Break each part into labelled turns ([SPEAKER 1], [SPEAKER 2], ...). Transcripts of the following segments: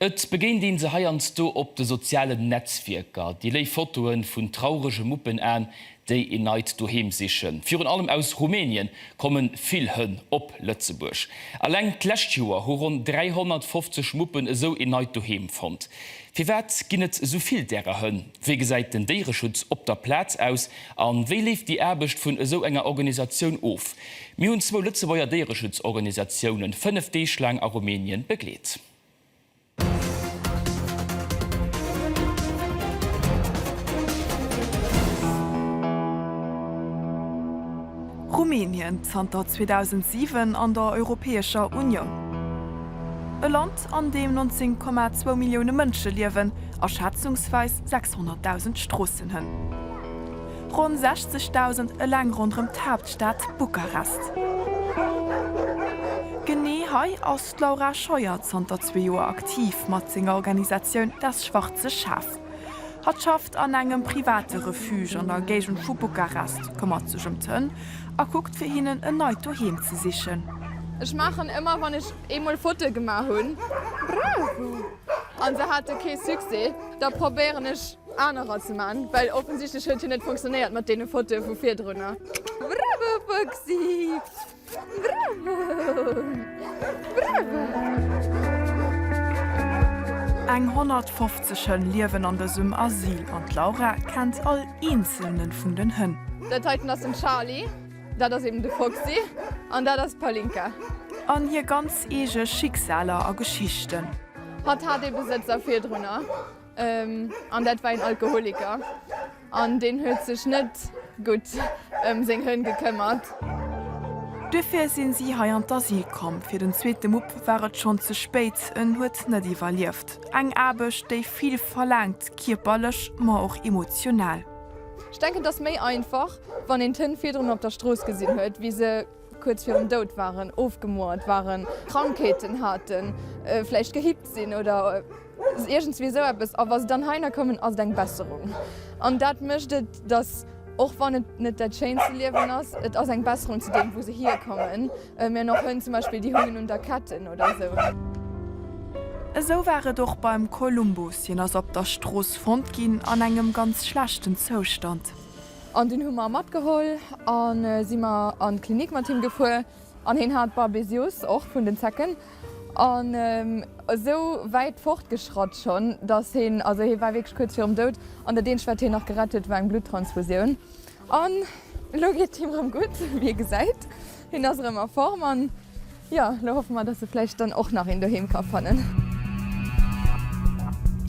[SPEAKER 1] Et begéint een se heiansdo op de sozialen Netzwierker, déi léif Fotoe vun traurege Muppenaen, déi een neit Doheem sichen. Virun allem aus Rumänien komme vill Hënn op Lëtzebuerg. Eleng d'lescht Joer hu ronn 350 Muppen esou een neit Doheem fonnt. Firwat ginn et esou vill därer Hënn? Wéi gesäit den Déiereschutz op der Plaz aus? A wéi leeft déi Aarbecht vun esou enger Organisatioun of? Mir hunn zwou Lëtzebuerger Déiereschutzorganisatiounen fënnef Deeg laang a Rumänien begleet.
[SPEAKER 2] Rumänien, zanter 2007 an der Europäescher Unioun. E Land, an deem 19,2 Millioune Mënsche liewen a schätzungsweis 600.000 Stroossenhënn. Ronn 60.000 eleng ronderëm d'Haaptstad Bukarest. Genee hei ass. D'Laura Scheuer, zanter zwee Joer aktiv mat senger Organisatioun Das schwarze Schaf. Hatt schafft an engem private Refuge an der Géigend vu Bukarest, këmmert sech ëm d'Hënn a kuckt fir hinnen en neit Doheem ze sichen. Ech maachen
[SPEAKER 3] ëmmer wann ech eemol Fotoe gemaach hunn an se hate kee Succès, da probéieren ech anerer ze man, well offensichtlech huet hien net funktionéiert mat deene Fotoe vu virdrunner. Bravo Fuchsi! Eng 150 Hënn
[SPEAKER 2] liewen an dësem Asyl an d'Laura kennt all eenzelne vun den Hënn. Dat heiten ass den
[SPEAKER 3] Charly, dat ass eben de Foxy an dat ass d'Palinka. An hir ganz
[SPEAKER 2] eege Schicksaler a Geschichten. Hatt hat ee
[SPEAKER 3] Besëtzer virdrunner. An dat war een Alkoholiker. An deen huet sech net gutt ëm seng Hënn gekëmmert.
[SPEAKER 2] Duerfir sinn si hei an d'Asyl komm. Fir den zweete Mupp war et schonn ze spéit. En huet net iwwerlieft. Eng Aarbecht, déi vill verlaangt, kierperlech, ma och emotional. Ech denken, et
[SPEAKER 3] ass méi einfach, wann een d'Hënn virdrun op der Strooss gesinn huet, wéi se kuerz virum Doud waren, ofgemouert waren, Krankheeten haten, vläicht gehippt sinn oder. Iergendswéi esou eppes. A wa se dann heihinner kommen, ass et eng Besserung. An dat mécht et, datt, och wann et net dat schéinste Liewen ass, et ass eng Besserung zu deem, wou se hierkommen. Mir hunn och Hënn zum Beispill, déi hungen un der Ketten oder esou.
[SPEAKER 2] Esou war et och beim Columbus. Hien ass op der Strooss fonnt ginn an engem ganz schlechten Zoustand. An deen hu
[SPEAKER 3] mer matgeholl a si mer an d'Klinik mat him gefuer. An hien hat Babesioos, och vun den Zecken, an esou wäit fortgeschratt schonn, datt hien, also hie war wierklech kuerz virum Doud, an dat eenzegt, wat hien nach gerett huet, war eng Bluttransfusioun. An elo geet et him erëm gutt, wéi ee gesäit. Hien ass erëm a Form, an jo, elo hoffe mer, datt e vläicht dann och nach een Doheem ka fannen.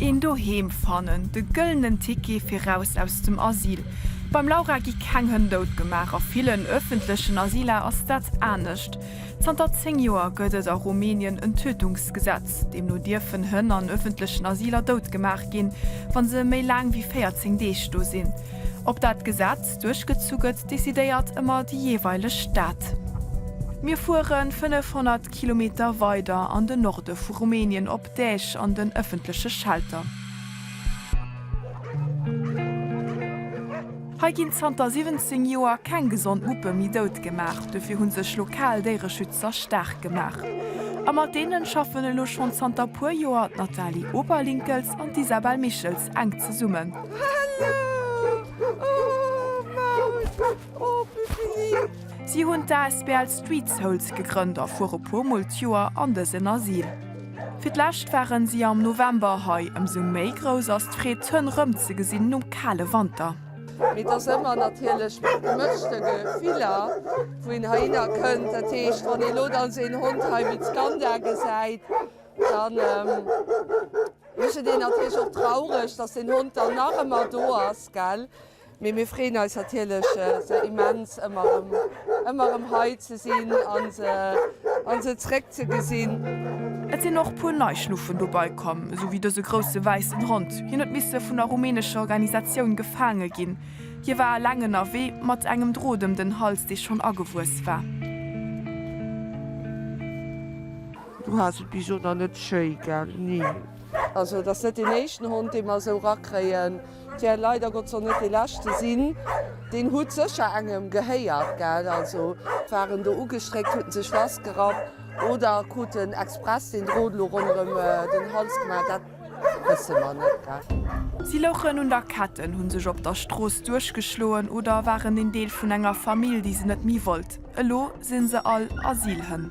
[SPEAKER 2] Een Doheem fannen, de gëllenen Ticket fir raus aus dem Asyl, Beim Laura gi keng Hënn dout gemaach, a villen ëffentlechen Asyler ass dat anescht. Zanter 10 Joer gëtt et a Rumänien en Tötungsgesetz. Deemno dierfen Hënn an ëffentlechen Asyler dout gemaach ginn, wa se méi laang wéi 14 Deeg do sinn. Ob dat Gesetz duerchgezu gëtt, decidéiert ëmmer déi jeeweileg Stad. Mir fuere 500 Kilometer weider an de Norde vu Rumänien op Däech an den ëffentleche Shelter. Hei ginn zanter 17 Joer keng gesond Muppe méi dout gemaach. Dofir hu sech lokal Déiereschützer staark gemaach. A mat deene schaffen elo schonn zanter puer Joer d'Nathalie Oberlinkels an d'Isabelle Michels enk zesummen.
[SPEAKER 3] Si hunn
[SPEAKER 2] d'ASBL Street Souls gegrënnt a fuere puer mol d'Joer an dësen Asyl. Fir d'lescht waren si am November hei, ëmsou méi grouss ass d'Freed d'Hënn rëm ze gesinn nom kale Wanter. Mee et ass ëmmer
[SPEAKER 4] natierlech mat gemëschte Gefiller wou een heihinner kënnt. Dat heescht wann ee lo dann esou een Hond hei wéi d'Skanda gesäit, dann mécht et een natierlech och traureg, dass den Hond dann nach ëmmer do ass, gell. Mee mir freeën eis natierlech se immens ëmmer erëm ëmmer erëm hei ze sinn an se an se zréck ze gesinn. Et sinn och puer nei
[SPEAKER 2] Schnuffen dobei komm, esou wéi dëse grousse wäissen Hond. Hien huet misse vun der rumänescher Organisatioun gefaange ginn. Hie war aleng ënnerwee, mat engem Drot ëm den Hals, dee schonn agewuess war.
[SPEAKER 4] Du has et bis elo nach net schéi, gell? Ni. Also et ass net deen éischten Hond, dee mer esou rakréien. Tja, leider Gott soll net dee leschte sinn. Deen hutt sécher engem gehéiert, gell? Also waren do ugestréckt, hutten sech festgerappt oder kruten express deen Drot elo ronderëm den Hals gemaach, dat wësse mer net, gell? Si louchen un der
[SPEAKER 2] Ketten, hu sech op der Strooss duerchgeschloen oder waren een Deel vun enger Famill, déi se net méi wollt. Elo si se all Asylhënn.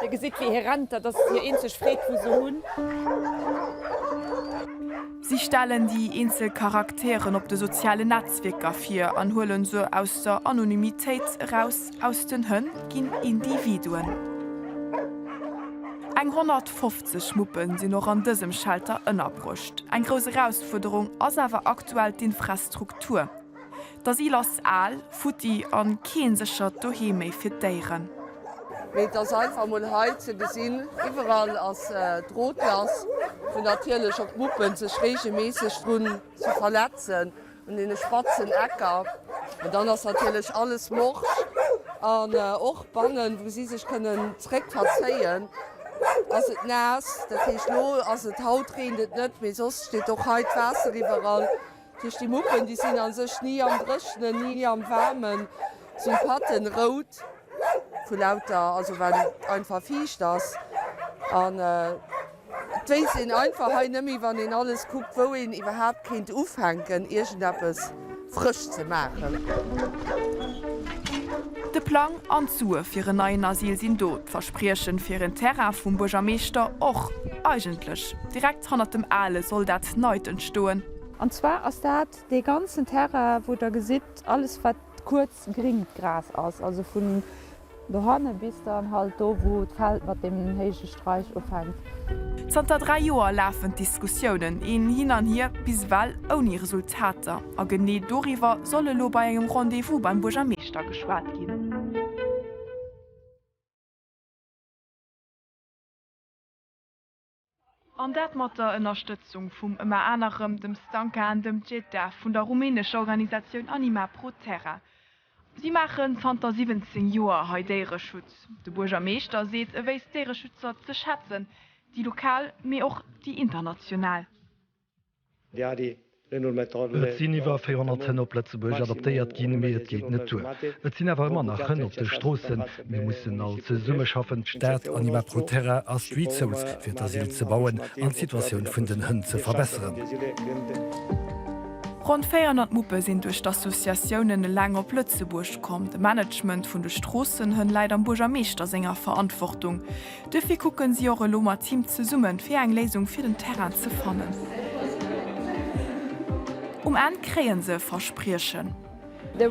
[SPEAKER 5] Dir gesitt wéi hie rennt, dat ass hir eenzeg Freed wou se hunn.
[SPEAKER 2] Si stellen déi eenzel Charakteren op de sozialen Netzwierker vir an huelen se aus der Anonymitéit eraus, aus den Hënn ginn Individuen. Eng 150 Muppe sinn och an dësem Shelter ënnerbruecht. Eng grouss Erausfuerderung ass awer aktuell d'Infrastruktur. D'Asyl ass al, futti an keen sechert Doheem méi fir d'Déiren. Mee et ass
[SPEAKER 4] einfach mol hei ze gesinn, iwwerall ass Drotlass, wou natierlech och d'Muppen sech regelméisseg drun ze verletzen, un deene spatzen Ecker. An dann ass natierlech alles morsch an och bannen, wou si sech kënnen zréck verzéien, ass et naass. Dat heescht, lo ass et, haut reent et net, mee soss steet och hei d'Waasser iwwerall. Tëscht de Muppen, déi sinn a sech ni am Dréchnen, ni am Waarmen, sinn d'Patten rout vu lauter, also well et einfach fiicht ass. An et wéisst een einfach hei net méi, wann een alles kuckt, wou een iwwerhaapt kéint ufänken, iergendeppes frësch ze maachen.
[SPEAKER 2] De Plang an d'Sue fir en neien Asyl sinn do, d'Versprieche fir en Terrain vum Buergermeeschter och. Eigentlech direkt hannert dem ale soll dat Neit entstoen. An zwar ass
[SPEAKER 5] dat dee ganzen Terrain, wou Der gesitt, alles wat kuerz gringt Gras ass, also vun dohanne bis dann halt do, wou d'Feld mat deem héije Streich ufänkt. Zanter dräi
[SPEAKER 2] Joer lafen d'Diskussiounen, een hin an hier, bis ewell ouni Resultater. A genee doriwwer soll elo bei engem Rendez-vous beim Buergermeeschter geschwat ginn. An dat mat der Ënnerstëtzung vum ëmmer anerem dem Stanka an dem Djeta vun der rumänescher Organisatioun Anima Pro Terra. Si maachen zanter 17 Joer hei Déiereschutz. De Buergermeeschter seet, e wéisst d'Déiereschützer ze schätzen, déi lokal, mee och déi international.
[SPEAKER 6] Et sinn iwwer 400 Hënn op Lëtzebuerg adoptéiert ginn, mee et geet net duer. Et sinn awer ëmmer nach Hënn op de Stroossen. Mir mussen all zesummeschaffen, d'Stad, Anima Proterra a Street Souls, fir d'Asyl ze bauen an d'Situatioun vun den Hënn ze verbesseren.
[SPEAKER 2] Ronn 400 Muppe sinn duerch d'Associatiounen eleng op Lëtzebuerg komm. De Management vun de Stroossenhënn läit am Buergermeeschter senger Verantwortung. Dofir kucken si och elo mat him zesummen fir eng Léisung fir den Terrain ze fannen. Um Enn kréien se e
[SPEAKER 3] Verspriechen. Do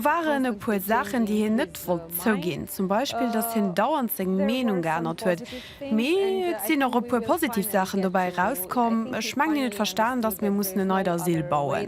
[SPEAKER 3] waren e puer
[SPEAKER 7] Saachen déi hien net wollt zouginn, zum Beispill datt hien dauernd seng Meenung geännert huet. Mee et sinn och e puer positiv Saachen dobäi erauskomm, ech mengen hien huet verstanen datt mir mussen e neit Asyl bauen.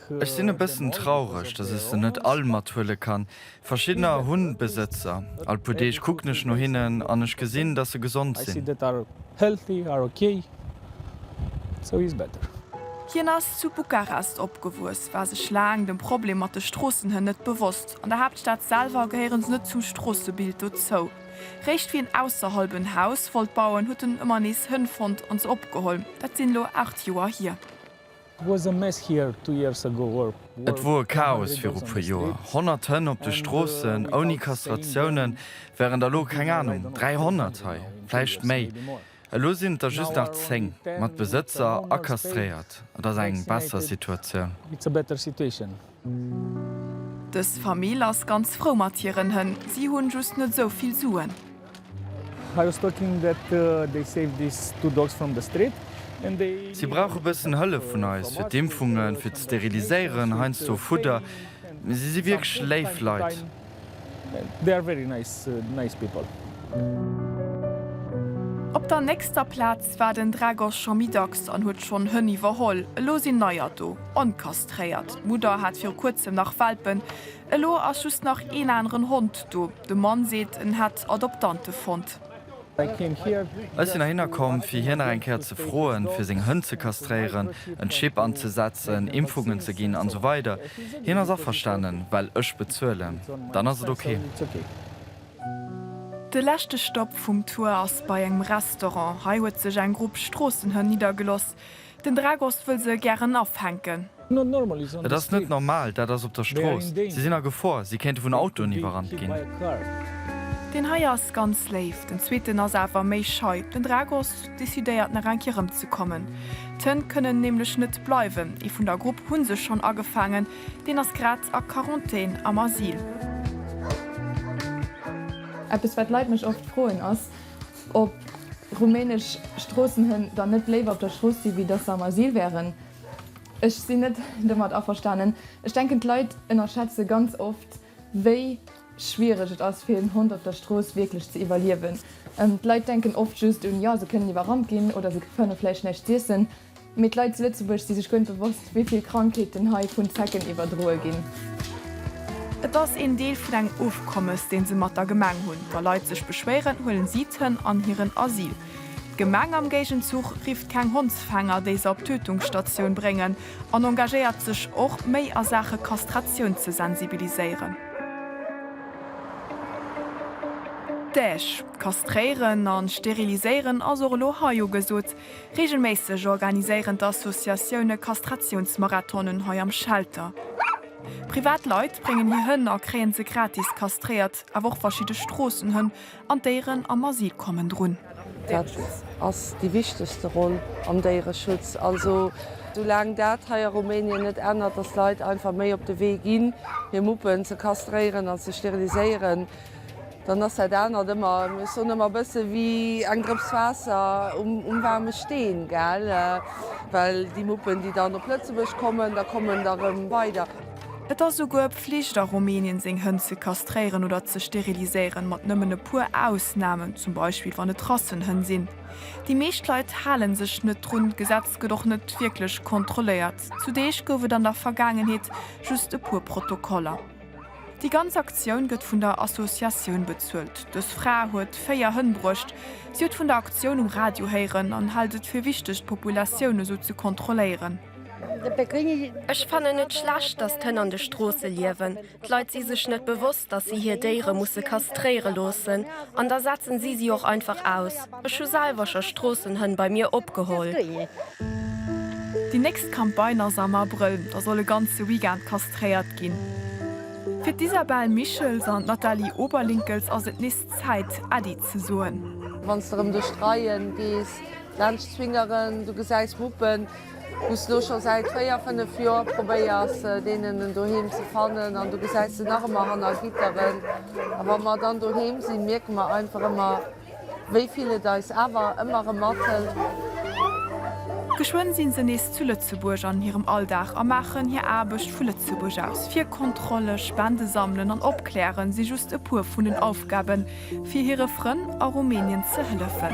[SPEAKER 8] Ech sinn e bëssen
[SPEAKER 9] traureg, dass ech se net all mathuele kann. Verschiddener hunn Besëtzer. All puer Deeg kucken ech no hinnen an ech gesinn, dass se gesond sinn.
[SPEAKER 8] Hien ass zu
[SPEAKER 2] Bukarest opgewuess, war sech laang dem Problem mat de Stroossenhënn net bewosst. An der Haaptstad selwer gehéieren se net zum Stroossebild dozou. Réischt wéi en ausserhalb en Haus wollt bauen, huet en ëmmer nees Hënn fonnt an se opgeholl. Dat sinn elo 8 Joer hier.
[SPEAKER 8] Et wor e Chaos
[SPEAKER 9] viru puer Joer, 100 Hënn op de Stroossen, ouni Kastratiounen, während elo, keng Ahnung, 300 hei, vläicht méi, elo sinn et der just nach 10, mat Besëtzer a kastréiert. Et ass eng
[SPEAKER 8] besser
[SPEAKER 9] Situatioun. Dës
[SPEAKER 2] Famill ass ganz frou mat hiren Hënn, si hunn just net esou vill Suen.
[SPEAKER 8] Si
[SPEAKER 9] brauche bëssen Hëllef vun eis fir d'Impfungen, fir ze steriliséieren, heiansdo Fudder. Mee si si wierklech léif Leit.
[SPEAKER 8] They are very nice nice people.
[SPEAKER 2] Op der nächster Plaz war den Dragos scho méi dacks an huet schonn Hënn iwwerholl. Elo sinn neier do, onkastréiert. D'Mudder hat viru kuerzem nach Welpen. Elo ass just nach een aneren Hond do. De Mann seet, en hätt Adoptante fonnt.
[SPEAKER 9] Ech sinn heihinner komm, fir hien nach eng Kéier ze froen, fir seng Hënn ze kastréieren, en Chip anzesetzen, Impfungen ze ginn an esou weider. Hien ass averstanen, well ech bezuelen. Dann ass et ok.
[SPEAKER 2] De leschte Stopp vum Tour ass bei engem Restaurant. Hei huet sech eng Grupp Stroossenhënn niddergeloss. Den Dragos wëll se gären afänken. Et ass
[SPEAKER 9] net normal, dat ass op der Strooss. Si sinn a Gefor, si kéinte vun Autoen iwwerrannt ginn.
[SPEAKER 2] Deen hei ass ganz léif, den zweeten ass awer méi schei. Den Dragos decidéiert nach eng Kéier rëmzekommen. D'Hënn kënnen nämlech net bleiwen. Ee vun der Grupp hu se schonn agefaangen, deen ass grad a Quarantän am Asyl.
[SPEAKER 3] Eppes wat d'Leit mech oft froen ass. Ob rumänesch Stroossenhënn dann net léiwer op der Strooss si wéi datt se am Asyl wären? Ech sinn net domat averstanen. Ech denken d'Leit ënnerschätze ganz oft wéi schwiereg et ass fir en Hond op der Strooss wierklech ze iwwerliewen. D'Leit denken oft just un, jo se kënnen iwwerrannt ginn oder se fënne vläicht näischt z'iessen. Mee d'Leit zu Lëtzebuerg si sech guer net bewosst, wéi vill Krankheeten hei vun Zecken iwwerdroe ginn.
[SPEAKER 2] Et ass een Deel vun engem Ofkommes, dee se mat der Gemeng hunn. Wa Leit sech beschwéieren, huelen si d'Hënn an hiren Asyl. D'Gemeng am Géigenzuch rifft keng Hondsfänger, déi se op d'Tötungsstatioun bréngen an engagéiert sech och, méi a Saache Kastratioun ze sensibiliséieren. D'Däch kastréieren a steriliséieren ass och elo hei ugesot. Reegelméisseg organiséieren d'Associatioune Kastratiounsmarathonen hei am Shelter. Privat Leit bréngen hir Hënn a kréie se gratis kastréiert. Awer och verschidde Stroossenhënn an d'Déieren am Asyl kommen drun. Dat
[SPEAKER 4] ass déi wichtegste Roll am Déiereschutz. Also soulaang dat hei a Rumänien net ännert, datt Leit einfach méi op de Wee ginn, hir Muppen ze kastréieren an ze steriliséieren, Dann ass dat anert ëmmer, ech soen ëmmer, e bësse wéi eng Drëps Waasser um waarme Steen, gell, well déi Muppen, déi dann op Lëtzebuerg kommen, da kommen der erëm weider. Et ass souguer
[SPEAKER 2] Pflicht a Rumänien, seng Hënn ze kastréieren oder ze steriliséieren, mat nëmmen e puer Ausnamen, zum Beispill wann et Rassenhënn sinn. Déi meescht Leit hale sech net drun, d'Gesetz gëtt och net wierklech kontrolléiert. Zu Deeg gouf et an der Vergaangenheet just e puer Protokoller. Déi ganz Aktioun gëtt vun der Associatioun bezuelt. Dës Fra huet 4 Hënn bruecht. Si huet vun der Aktioun um Radio héieren an hält et fir wichteg d'Populatioun esou ze kontrolléieren. Ech
[SPEAKER 10] fannen et schlecht, datt d'Hënn an de Stroosse liewen. D'Leit si sech net bewosst, datt si hir Déiere musse kastréiere loossen an da setzen si si och einfach aus. Ech hu selwer scho Stroossenhënn bei mir opgeholl.
[SPEAKER 2] Déi nächst Campagne ass am Abrëll, da soll e ganze Weekend kastréiert ginn. Fir d'Isabelle Michels an d'Nathalie Oberlinkels ass et nees Zäit, Äddi ze soen. Wann s de erëm duerch
[SPEAKER 4] d'Reien gees, laanscht d'Swingeren, du gesäis Muppen, wou s de elo scho säit véier, fënnef Joer probéiers, deenen en Doheem ze fannen, an du gesäis se nach ëmmer hanner Gitteren. A wa mer dann doheem sinn, mierke mer einfach ëmmer, Wéi vill et eis awer ëmmer erëm mathëlt.
[SPEAKER 2] Geschwënn sinn se nees zu Lëtzebuerg an hirem Alldag a maachen hir Aarbecht vu Lëtzebuerg aus. Virkontrolle, Spende sammelen an opklären si just e puer vun den Aufgaben, fir hire Frënn a Rumänien ze hëllefen.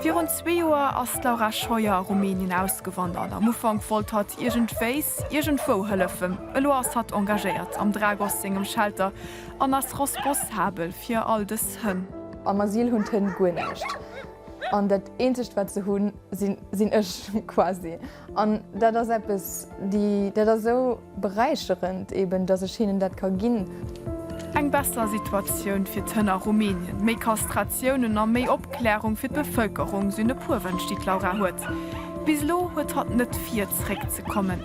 [SPEAKER 2] Virun zwee Joer ass d'Laura Scheuer a Rumänien ausgewandert. Am Ufank wollt hatt iergendwéis, iergendwou hëllefen. Elo ass hatt engagéiert am Dragos sengem Shelter An ass rospossabel fir all dës Hënn. Am Asyl hunn d'Hënn
[SPEAKER 3] guer näischt. An dat eenzegt wat se hunn, sinn ech quasi. An dat ass eppes, dat ass esou beräicherend eben, datt ech hinnen dat ka ginn. Eng besser
[SPEAKER 2] Situatioun fir d'Hënn a Rumänien, méi Kastratiounen a méi Opklärung fir d'Bevëlkerung sinn e puer Wënsch, déi d'Laura huet. Bis elo huet hatt net vir, zeréck ze kommen.